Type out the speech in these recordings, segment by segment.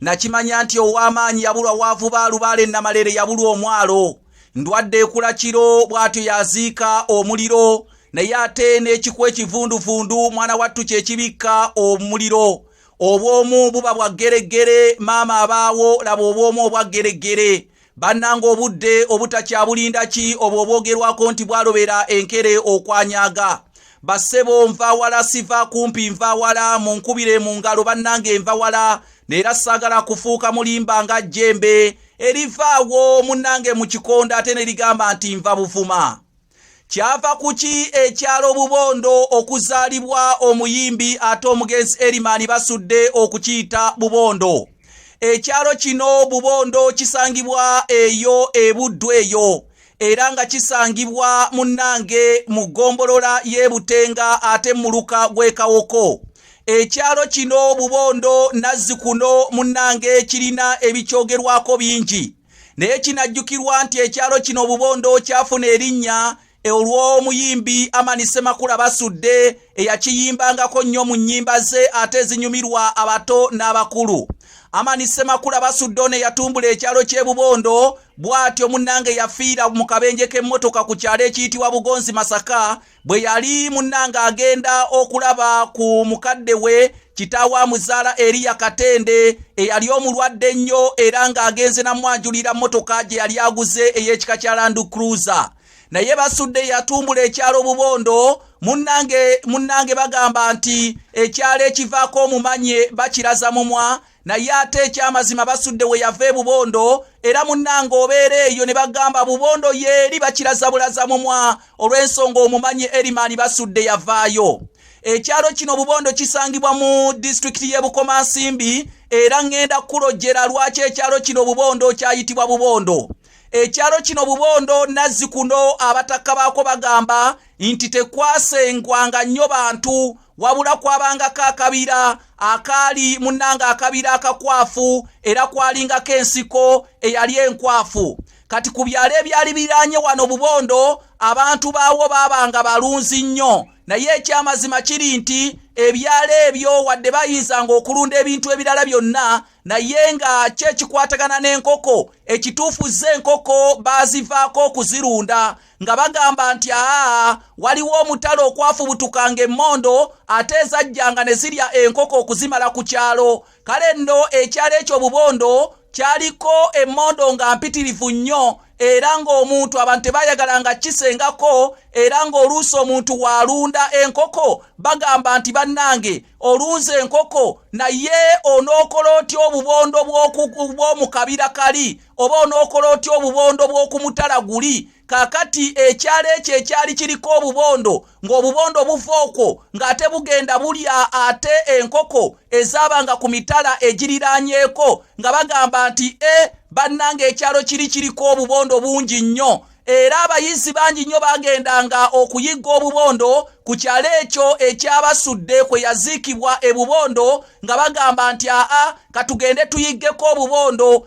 nakimanya nti ow'amaanyi yabulwa waavuba alubaala ennamalere yabulwa omwalo ndwadde ekula kiro bw'atyo yaziika omuliro naye ate n'ekikuwa ekivunduvundu mwana wattu kye kibikka omuliro obw'omu buba bwa ggereggere maama abaawo laba obw'omu obwa ggereggere bannanga obudde obutakyabulinda ki obwo obwogerwako nti bwalobera enkere okwanyaga basebo nva wala siva kumpi nva wala munkubire mu ngalo bannange nva wala neera saagala kufuuka mulimba nga jjembe erivaawo munnange mu kikonda ate ne ligamba nti nva buvuma kyava kuki ekyalo bubondo okuzaalibwa omuyimbi ate omugenzi erimani basudde okukiyita bubondo ekyalo kino bubondo kisangibwa eyo ebuddu eyo era nga kisangibwa munnange mu ggombolola y'ebutenga ate muluka gw'ekawoko ekyalo kino bubondo nazzikuno munnange kirina ebikyogerwako bingi naye kinajjukirwa nti ekyalo kino obubondo kyafuna erinnya olw'omuyimbi amani semakula basudde eyakiyimbangako nnyo mu nnyimba ze ate ezinyumirwa abato n'abakulu amani semakula basudde ono eyatumbula ekyalo ky'ebubondo bw'atyo munnange yafiira mu kabenje k'emmotoka ku kyalo ekiyitibwa bugonzi masaka bwe yali munnange agenda okulaba ku mukadde we kitaawe amuzaala eriya katende eyali omulwadde ennyo era ng'agenze namwanjulira mmotoka gye yali aguze ey'ekika kya landu cruiser naye basudde yatumbula ekyalo bubondo munnange munnange bagamba nti ekyalo ekivaako omumanye bakiraza mumwa naye ate ekyamazima basudde we yava ebubondo era munnanga obeera eyo ne bagamba bubondo yeeri bakiraza bulaza mumwa olw'ensonga omumanyi erimani basudde yavaayo ekyalo kino bubondo kisangibwa mu disitulikiti y'e bukomansimbi era ŋŋenda kulojjera lwaki ekyalo kino bubondo kyayitibwa bubondo ekyalo kino bubondo nazzikuno abatakka baako bagamba nti tekwasengwanga nnyo bantu wabula kwabangako akabira akaali munnanga akabira akakwafu era kwalingako ensiko eyali enkwafu kati ku byalo ebyali biranye wano bubondo abantu baawo baabanga balunzi nnyo naye ekyamazima kiri nti ebyalo ebyo wadde bayinzanga okulunda ebintu ebirala byonna naye nga kyekikwatagana n'enkoko ekituufu ze enkoko baazivaako okuzirunda nga bagamba nti aa waliwo omutale okwafubutukanga emmondo ate ezajjanga ne zirya enkoko okuzimala ku kyalo kale nno ekyalo ekyo bubondo kyaliko emmondo nga mpitirivu nnyo era ng'omuntu abantu tebayagala nga kisengako era ng'oluusi omuntu waalunda enkoko bagamba nti bannange olunza enkoko naye onookola otya obubondo bw'omu kabira kali oba onookola otya obubondo bw'okumutala guli kakati ekyalo ekyo ekyali kiriko obubondo ng'obubondo buva okwo ng'ate bugenda bulya ate enkoko ezaabanga ku mitala egiriraanyeeko nga bagamba nti e bannanga ekyalo kiri kiriko obubondo bungi nnyo era abayizi bangi nnyo baagendanga okuyigga obubondo ku kyalo ekyo ekyabasudde kwe yaziikibwa e bubondo nga bagamba nti aa katugende tuyiggeko obubondo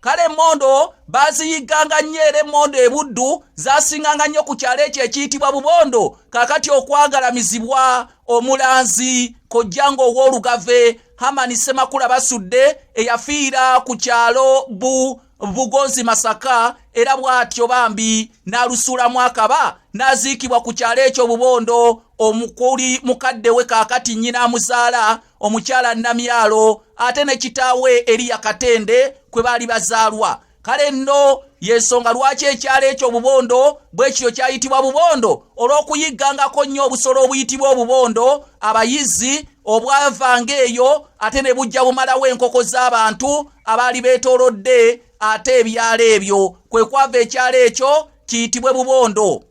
kale emmondo baaziyigganga nnyo era emmondo ebuddu zaasinganga nnyo ku kyalo ekyo ekiyitibwa bubondo kaakati okwagalamizibwa omulanzi kojja ng'ow'olugave hamani semakula basudde eyafiira ku kyalo bu bugonzi masaka era bw'atyo bambi n'alusuulamu akaba n'aziikibwa ku kyalo ekyo bubondo omukuli mukadde we kaakati nnyina amuzaala omukyala namyalo ate ne kitaawe eriya katende kwe baali bazaalwa kale nno yensonga lwaki ekyalo ekyo obubondo bwekityo kyayitibwa bubondo olw'okuyiggangako nnyo obusolo obuyitibwa obubondo abayizi obwavanga eyo ate ne bujja bumalawo enkoko z'abantu abaali beetolodde ate ebyalo ebyo kwe kwava ekyalo ekyo kiyitibwe bubondo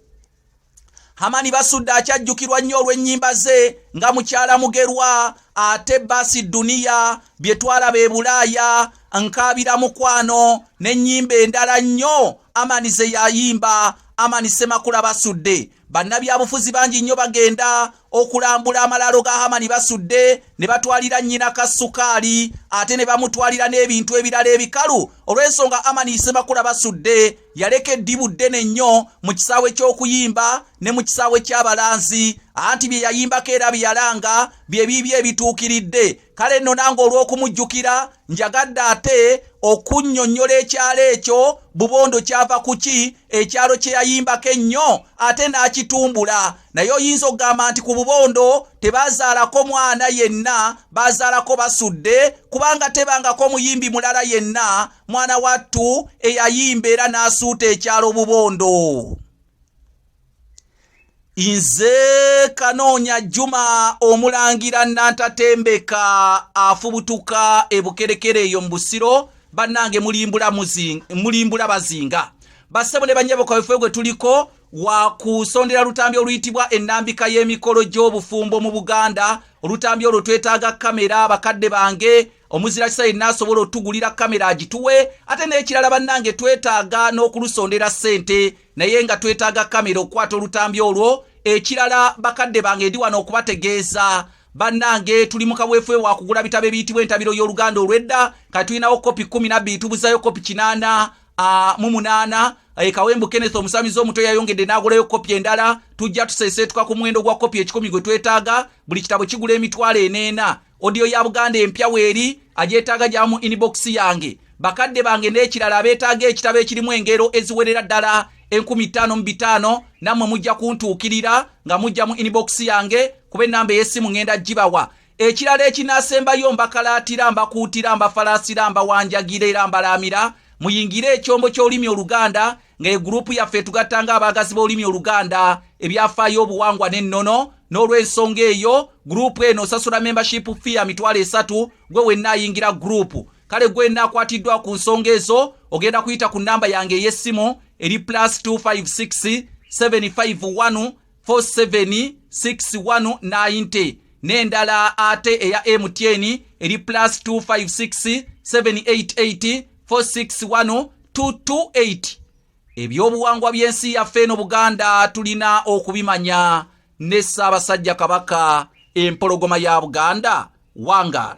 hamani basudde akyajjukirwa nnyo olw'ennyimba ze nga mukyala mugerwa ate baasi duniya bye twalaba e bulaaya nkaabira mukwano n'ennyimba endala nnyo amani ze yayimba amani semakula basudde bannabyabufuzi bangi nnyo bagenda okulambula amalaalo ga hamani basudde ne batwalira nnyina ka sukaali ate ne bamutwalira n'ebintu ebirala ebikalu olw'ensonga hamani isemakula basudde yaleka eddibu ddene nnyo mu kisaawe ky'okuyimba ne mu kisaawe ky'abalanzi anti bye yayimbako era bye yalanga bye biibyo ebituukiridde kale nno nange olw'okumujjukira njagadde ate okunnyonnyola ekyalo ekyo bubondo kyava ku ki ekyalo kye yayimbako ennyo ate n'akitumbula naye oyinza okugamba nti ku bubondo tebaazaalako mwana yenna baazaalako basudde kubanga tebangako omuyimbi mulala yenna mwana wattu eyayimba era n'asuuta ekyalo bubondo nze kanoonya juma omulangira nantatembeka afubutuka ebukerekere eyo mu busiro bannange mulimbula bazinga bassebo ne banyabo kawefe gwe tuliko wakusondera lutambi oluyitibwa ennambika y'emikolo gy'obufumbo mu buganda olutambi olwo twetaaga kamera bakadde bange omuzira kisa yenna asobola otugulira kamera agituwe ate n'ekirala bannange twetaaga n'okulusondera ssente naye nga twetaaga kamera okukwata olutambi olwo ekirala bakadde bange ndi wano okubategeeza bannange tuli mu kaweefube wa kugula bitabo ebiyitibwa entabiro y'oluganda olw'edda ka tulinawo kopi kumi nabbiri tubuzayo kopi kinaana mu munaana e kawembu kenneth omusamizi omuto yayongedde n'agulayo kopi endala tujja tuseeseetuka ku muwendo gwa kopi ekikumi gwe twetaaga buli kitabo kigula emitwalo eneena Audio ya Buganda empya weeri agyetaaga gya mu inbox yange bakadde bange n'ekirala abeetaaga ekitabo ekirimu engero eziwerera ddala enkumi ttaano mu bitaano nammwe mujja kuntuukirira nga mujja mu inbox yange kuba ennamba ey'essimu ngenda gibawa ekirala ekinaasembayo mbakalaatira mbakuutira mbafalaasira mbawanjagira era mbalaamira muyingire ekyombo ky'olulimi oluganda nga egurupu yaffe etugatta nga abaagazi b'olulimi oluganda ebyafaayo obuwangwa n'ennono n'olw'ensonga eyo gurupu eno osasula membership fee ya mitwalo esatu gwe wenna ayingira gurupu kale gwe wenna akwatiddwa ku nsonga ezo ogenda kuyita ku nnamba yange ey'essimu eri plus 256 751 476190 n'endala ate eya mtn eri plus 256788461228 ebyobuwangwa by'ensi yaffe eno buganda tulina okubimanya ne ssaabasajja kabaka empologoma ya buganda wangaala